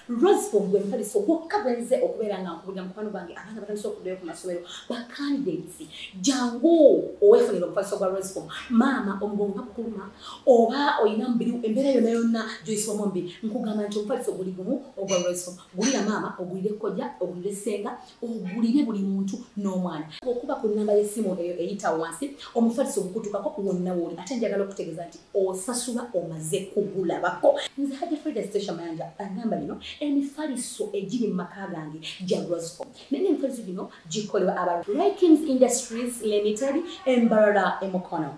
Roseful gwe mufaliso gwokka gwe nze okubeera nga nkubulira mukwano gwange abaana batandise okuddayo ku masomero ba candidates jangu owefunira omufaliso gwa Roseful maama omugongo nga kukuluma oba olina mubiri embeera yonna yonna gyoyisibwamu mbi nkugamba nti omufaliso guli gumu ogwa Roseful gulira maama ogulire kojja ogulire ssenga ogulire buli muntu n'omwana okuba ku nnamba y'essimu eyo eyita wansi omufaliso ogukutukako wonna wooli ate njagala okutegeeza nti osasula omaze kugulabako nze haja frida stasha mayanja agamba lino emifaliso egiri mu maka gange gya roscom naye n'emifaliso gino gikolebwa aba rikings industries limited embarara emukono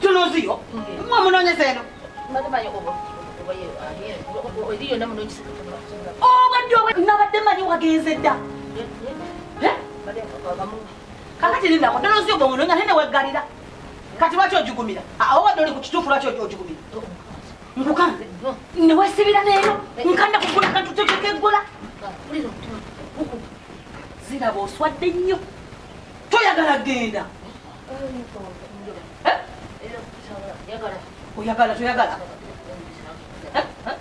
tunoziyo mwe munonyeza eno obadde obwe nabadde manyi wagenze dda kakati lindako tunoziyo bwe munonya naye neweggalira kati lwaki ojugumira awo wadde oli ku kituufu lwaki ojugumira nkukanze newesibira neero nkanda kugula kantu kyoteka eggula ziraba oswadde nnyo toyagala genda eh? oyagala toyagala eh? Eh?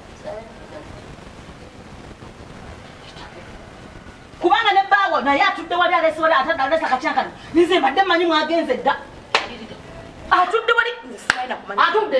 kubanga ne baawo naye atudde wali alesibala atadalesa katyakano nize mbadde manyi mwagenze dda atudde wali atudde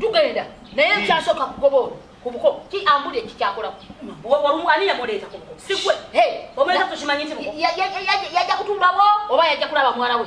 tugenda naye nkyasoka kugoba olwo kubuko ki ambuli ekikyakola ani yamuleeta kubuko sigwe omuleeta tukimanyi nti yajja kutumbawo oba yajja kulaba mwala we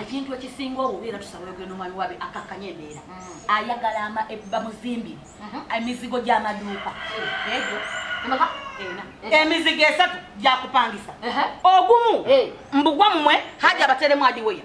ekintu ekisinga obubi era tusaba ogenda omwami wabe akakkanya embeera mm. ayagala bamuzimbire mm-hmm. emizigo gy'amaduuka mm. egyo emizigo esatu gyakupangisa ogumu mbugwa mumwe haja abateremu adiweya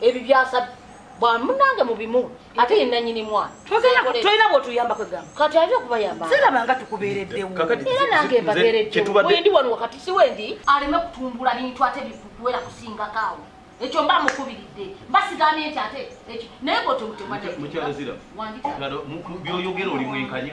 ebibyasa bwamunange mubimu ate yenanyini mwana tolina bwotuyamba kwegamba kati aja okubayamba siraba nga tukubeereddewo era nange mbabeereddewo wendi wano wakati si wendi aleme kutumbula bintu ate bikuwera kusingakaawo ekyo mba mukubiridde mbasigamye nti ate naye bwotemutemwabyoyogera oli mwenkanya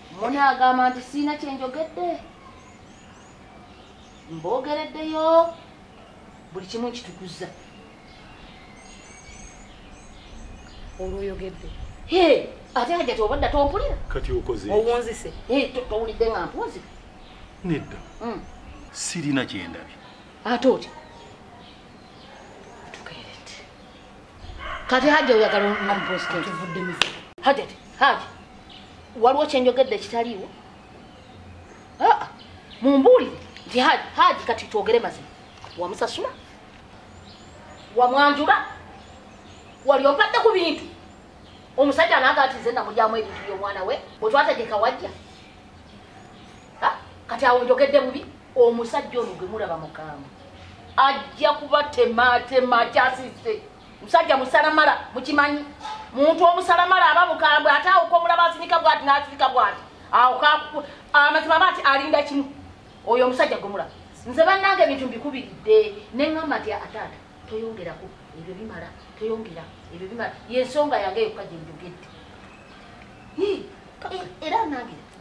Mune agamba nti siina kye njogedde mboogereddeyo buli kimu nkitukuza olwoyogedde ate hajja tobadda tompulira kati okoze owunzise towulidde nga mpuzi nedda hmm. sirina kyendabye ate otya kati hajja oyagala omupositkivuddemu hajati haji waliwo kyenjogedde ekitaliiwo ah, mumbuulire nti haji haji kati twogere mazima wamusasula wamwanjula wali ompadde ku bintu omusajja anaga ati nze namulyamu ebintu by'omwana we bwetwategeka wajja ah, kati awo njogedde bubi omusajja ono gwe mulaba mukambwe ajja kubatemaatema akyasiise musajja musalamala mukimanyi muntu omusalamala aba mukambwe ate awo komulaba asinika bwati n'asinika bwati awo amazima aba ti alinda kimu oyo omusajja gwe mulaba nze bannange ebintu mbikubiridde ne ŋŋamba nti ataata toyongerako ebyo bimala toyongera ebyo bimala yensonga yange yokka gye njogedde era nange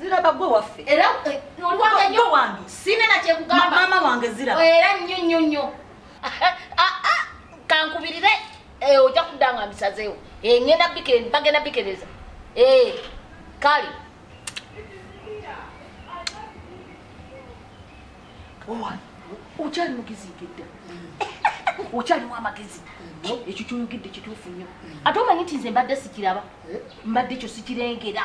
ziraba gwe waffe era eh, oliwange nyo wange sine na kyekugamba mama wange ziraba era nyo nyo nyo ah, ah, kankubirire eh, ojja kudanga misazeewo eh, ngenda bagenda bikereza kale okyali mugezi ngedda okyaliwo amagezi ekyo kyoyogedde kituufu nnyo ate omanyi nti nze mbadde sikiraba mbadde ekyo sikirengera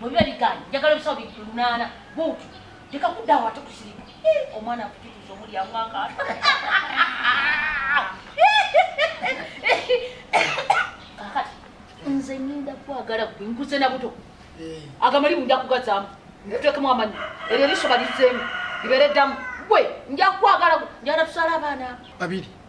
bwebiba bigaanyi njagala ebisawo bibiri lunaana buutu leka kuddawo ate kusirika omwana akututuza omulyamu akaata kakati nze ngenda kwagala gwe nkuze na buto eh. agamali bunja kugazaamu nkutekemu amanyi eryo erisoba lizeemu libeere ddamu gwe nja kwagala gwe njagala tusala abaana babiri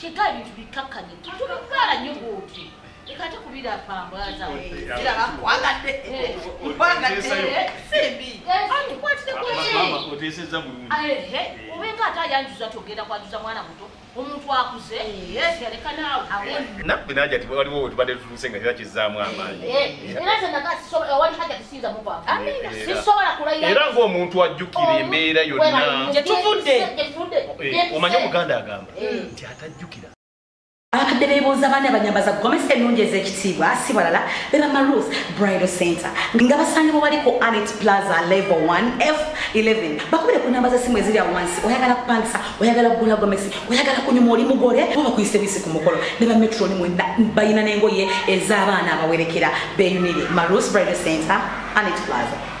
kyeka ebintu bikkakkanye tubikwala nnyo bwoti leka ate kubira pambaza ziraba nkwagadde nkwagadde simbi antukwatire kweoteeseza bulungi obenga ate ayanjuza togenda kwanjuza mwana muto omuntu akuze yaleka naawe nabwe naja ti waliwo wetubadde senga kira kizaamu amaanyi era ng'omuntu ajjukira embeera yonna gyetuvudde eh, omanye omuganda agamba eh. nti atajjukira abakadde bebuuza baana banyambaza gomesa ennungi ez'ekitiibwa si balala beba maruth bridal center nga basangibwa bali ku anet plaza level 1 f 11 bakubire ku namba z'essimu eziri awo wansi oyagala kupangisa oyagala kugula gomesi oyagala kunyuma oli mugole bo bakuyise bisi ku mukolo ne bametroni mwena balina n'engoye ez'abaana abawerekera beyunire marus bridal center anit plaza